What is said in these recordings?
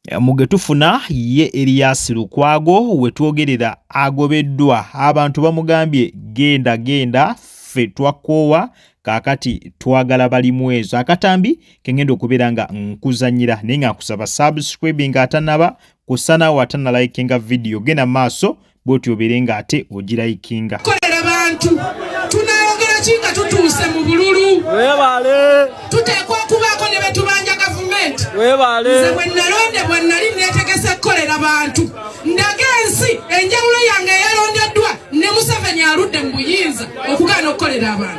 Eh, mu ge tufuna ye eriyasi lukwago wetwogerera agobeddwa abantu bamugambye genda genda ffe twakoowa kakati twagala balimu ezo akatambi kengenda okubeera nga nkuzanyira naye nga nkusaba subscribing atanaba kusanawo atanalaikinga vidiyo genda maaso bwoti obeere nga ate ogirayikinga kolera bantu tunayogera ki nga tutuuse mu bululu webale tuteekwa okubaako ne betubanja gavumenti webale nze bwe nalondebwa nali netegese kukolera bantu ndaga ensi enjawulo yange eyalondeddwa ne museveni aludde mu buyinza okugaana okukolera abantu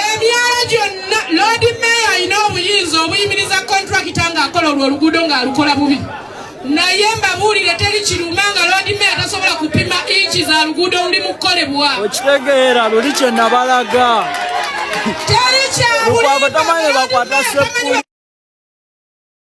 emyalo gyonna loodi meeya alina obuyinza obuyimiriza kontrakita ng'akola olwo oluguudo ng'alukola bubi naye mbabuulire teri kiruma nga loodi meeya tasobola kupima inki za luguudo oluli mu kukolebwa okitegeera luli kye nabalaga teri kyabuliabatamanye bakwata sepuli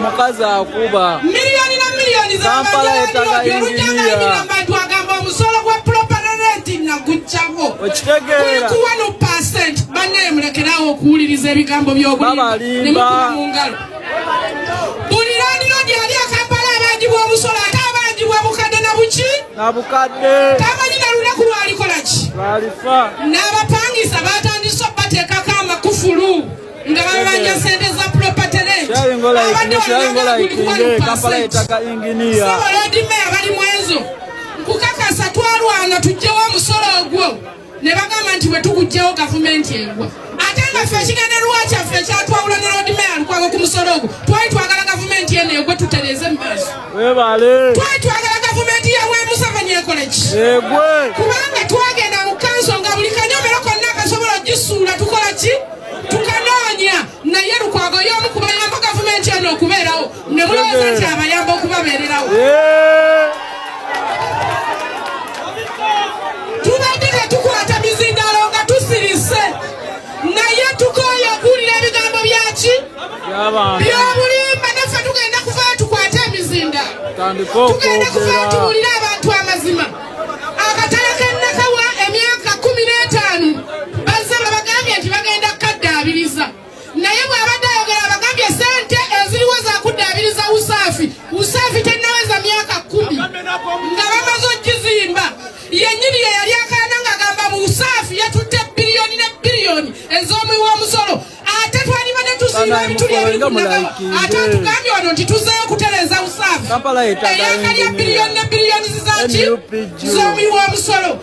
omukazi akuba miliyoni na miliyoni zabantu agamba omusolo gwa property naguccawo okitegeerakuwa no percent banaye mulekerawo okuwuliriza ebigambo by'obulimba mu ngalo buli landiro gyali akampala abangibwa omusolo ate abangibwa bukadde na buki nabukadde tamanyi na lunaku lwalikolaki lwalifa n'abapangisa batandise okubateekako amakufulu nga babanja sente za propatereabaddewalodimaya bali mwezo nkukakasa twalwana tujjewo omusolo ogwo ne bagamba nti bwe tukuggyawo gavumenti egwa ate nga ffe ekigendererwa kyaffe ekyatwawula ne lord mayor lukwago ku musolo ogwo twali twagala gavumenti eno egwe tutereeze mu maaso twali twagala gavumenti yamwe museveni ekole ki kubanga twagenda mu kanso nga buli kanyomero konna akasobola okugisuula tukola ki tukanoonya naye lukwago y'omu kubayamba gavumenti eno okubeerawo ne mulowooza nti abayamba okubabeererawo tubadde tetukwata mizindalo nga tusirise naye tukooye okuwulira ebigambo byaki byobulimba naffe tugenda kuvayo tukwate emizinda tugenda kuvayo tuwulire abantu amazima akatale kennakawa emyaka kumi n'etaano bazze nga bagambye nti bagenda kukaddaabiriza naye bw'abadde ayogera abagambye sente eziriwo zakuddaabiriza usaafi usaafi tennaweza myaka kumi nga bamaze okizimba yennyini ye yali akaana ng'agamba mu usaafi yatutte biliyoni ne biliyoni ez'omuwi w'omusolo ate twaliba ne tuziiba ebituli ebiri ku nagawa ate atugambye wano nti tuzeeyo okutereeza usaafi eyaka lya biliyoni ne biliyoni zizaki z'omuwi w'omusolo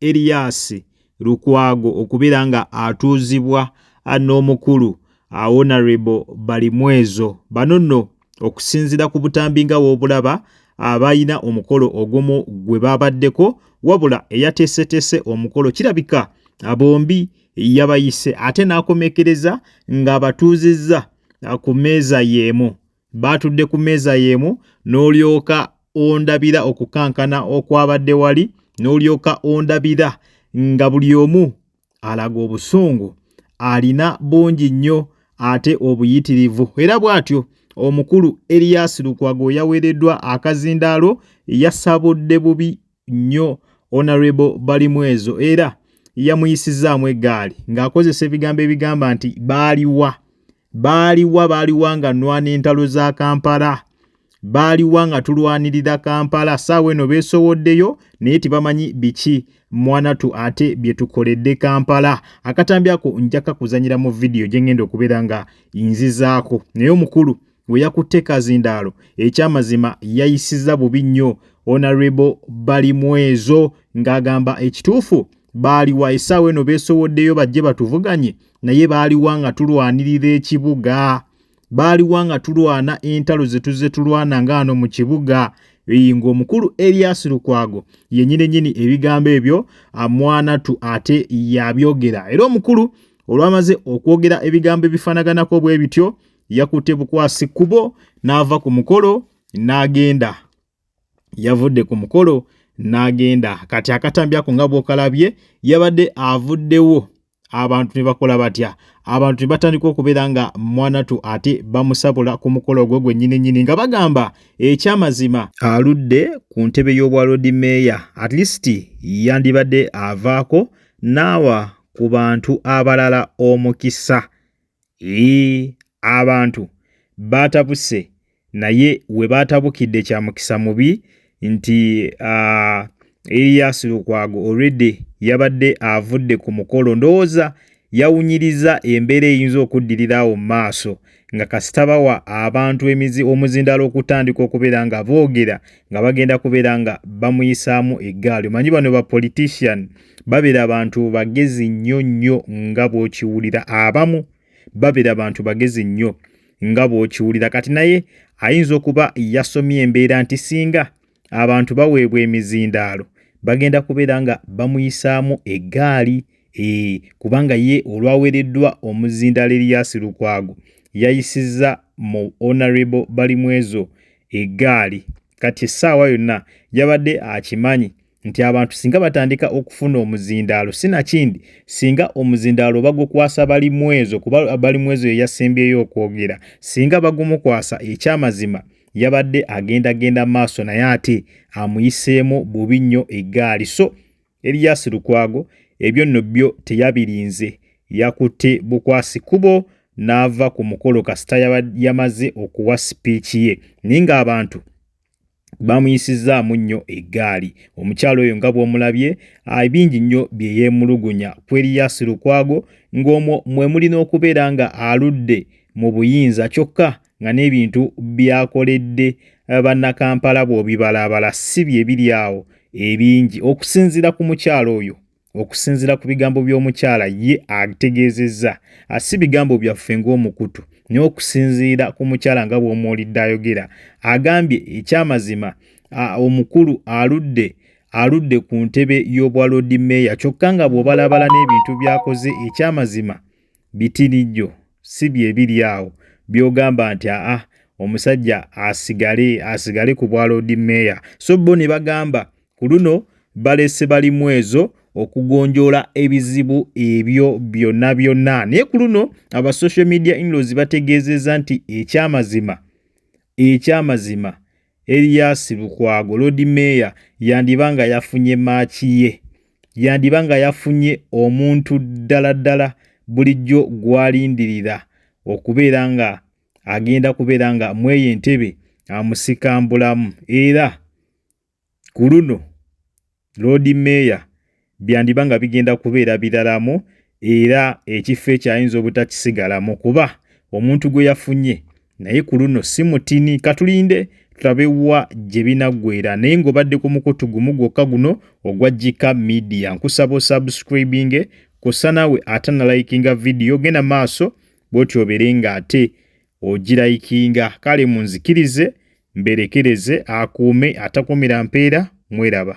Erias Lukwago okubeera nga atuuzibwa n'omukulu Honourable Balimwezo. Bano nno okusinzira ku butambi nga w'obulaba abalina omukolo ogumu gwe baabaddeko wabula eyateeseteese omukolo kirabika bombi yabayise ate n'akomekereza ng'abatuuzizza ku mmeeza y'emu. baatudde ku mmeeza y'emu n'olyoka ondabira okukankana okwabadde wali n'olyoka ondabira nga buli omu alaga obusungu alina bungi nnyo ate obuyitirivu era bw'atyo omukulu Erias Lukwago yaweereddwa akazindaalo yasabudde bubi nnyo Honorable Balimwezo era yamuyisizaamu eggaali ng'akozesa ebigambo ebigamba nti baaliwa baaliwa baaliwa nga nwana entalo za Kampala baaliwa nga tulwanirira Kampala saawa eno beesowoddeyo naye tebamanyi biki mwanatu ate bye tukoledde Kampala akatambi ako njakakuzanyira mu vidiyo gye ngenda okubeera nga nzizaako naye omukulu we yakutte kazindaalo ekyamazima yayisizza bubi nnyo onarebo bali mwezo ng'agamba ekituufu baaliwa essaawa eno beesowoddeyo bajje batuvuganye naye baaliwa nga tulwanirira ekibuga baaliwa nga tulwana entalo ze tuzze tulwana ngaano mu kibuga eyi ng'omukulu elias lukwago yenyini nyini ebigambo ebyo mwanatu ate yabyogera era omukulu olwamaze okwogera ebigambo ebifanaganako bwe bityo yakutte bukwasi kkubo n'ava ku mukolo n'agenda yavudde ku mukolo n'agenda kati akatambi ako nga bw'okalabye yabadde avuddewo abantu ne bakola batya abantu ne batandika okubeera nga mwanatu ate bamusabula ku mukolo ogwo gwennyini nnyini nga bagamba ekyamazima aludde ku ntebe y'obwaloodi meeya at least yandibadde avaako n'awa ku bantu abalala omukisa Yii abantu baatabuse naye we baatabukidde kya mukisa mubi nti uh, Erias Lukwago already yabadde avudde ku mukolo ndowooza yawunyiriza embeera eyinza okuddirira awo mu maaso nga kasita bawa abantu emizi omuzindaalo okutandika okubeera nga boogera nga bagenda kubeera nga bamuyisaamu eggaali omanyi bano ba politician babera bantu bagezi nnyo nnyo nga bwokiwulira abamu babera bantu bagezi nnyo nga bwokiwulira kati naye ayinza okuba yasomye embeera nti singa abantu baweebwa emizindaalo bagenda kubeera nga bamuyisaamu eggaali ee eh, kubanga ye olwaweereddwa omuzindaalo eriyasi lukwago yayisizza mu honorable balimwezo eggaali kati essaawa yonna yabadde akimanyi nti abantu singa batandika okufuna omuzindaalo sinakindi singa omuzindaalo bagukwasa balimwezo kuba balimwezo yeyasembyeyo okwogera singa bagumukwasa ekyamazima yabadde agenda genda maaso naye ate amuyiseemu bubi nnyo eggaali so eriyasi lukwago ebyo nno byo teyabirinze yakutte bukwasi kubo n'ava ku mukolo kasita yamaze okuwa sipiiki ye naye ng'abantu baamuyisizzaamu nnyo eggaali omukyala oyo nga bw'omulabye bingi nnyo bye yeemulugunya ku Erias Lukwago ng'omwo mwe muli n'okubeera nga aludde mu buyinza kyokka nga n'ebintu by'akoledde eh, bannakampala bw'obibalaabala si bye biri awo ebingi okusinziira ku mukyala oyo Okusinzira ku bigambo by'omukyala ye ategeezezza ah, si bigambo byaffe ng'omukutu naye okusinziira ku mukyala nga bw'omuwulidde ayogera agambye ekyamazima ah, omukulu aludde aludde ku ntebe y'obwa loodi meeya kyokka nga bw'obalabala n'ebintu by'akoze ekyamazima Bitirijo si bye biri awo byogamba nti aa omusajja asigale asigale ku bwa Lord Mayor. So bo ne bagamba ku luno balese bali mwezo okugonjoola ebizibu ebyo byonna byonna. Naye ku luno aba social media inlaws bategeezezza nti ekyamazima ekyamazima Erias Lukwago, Loodi Meeya, yandiba nga yafunye maaki ye. Yandiba nga yafunye omuntu ddala ddala bulijjo gw'alindirira okubeera nga agenda kubeera nga mw'eyo entebe amusikambulamu era ku luno Loodi Meeya byandiba nga bigenda kubeera biralamu era ekifo ekyo ayinza obutakisigalamu kuba omuntu gwe yafunye naye ku luno si mutini. Katulinde tulabe wa gye binaggweera naye ng'obadde ku mukutu gumu gwokka guno ogwa Gika Media nkusaba osubscribinge kw'ossa naawe ate nalayikinga vidiyo genda maaso bw'otyo obeere ng'ate ogirayikinga. Kale munzikirize mberekereze akuume atakuumira mpeera mweraba.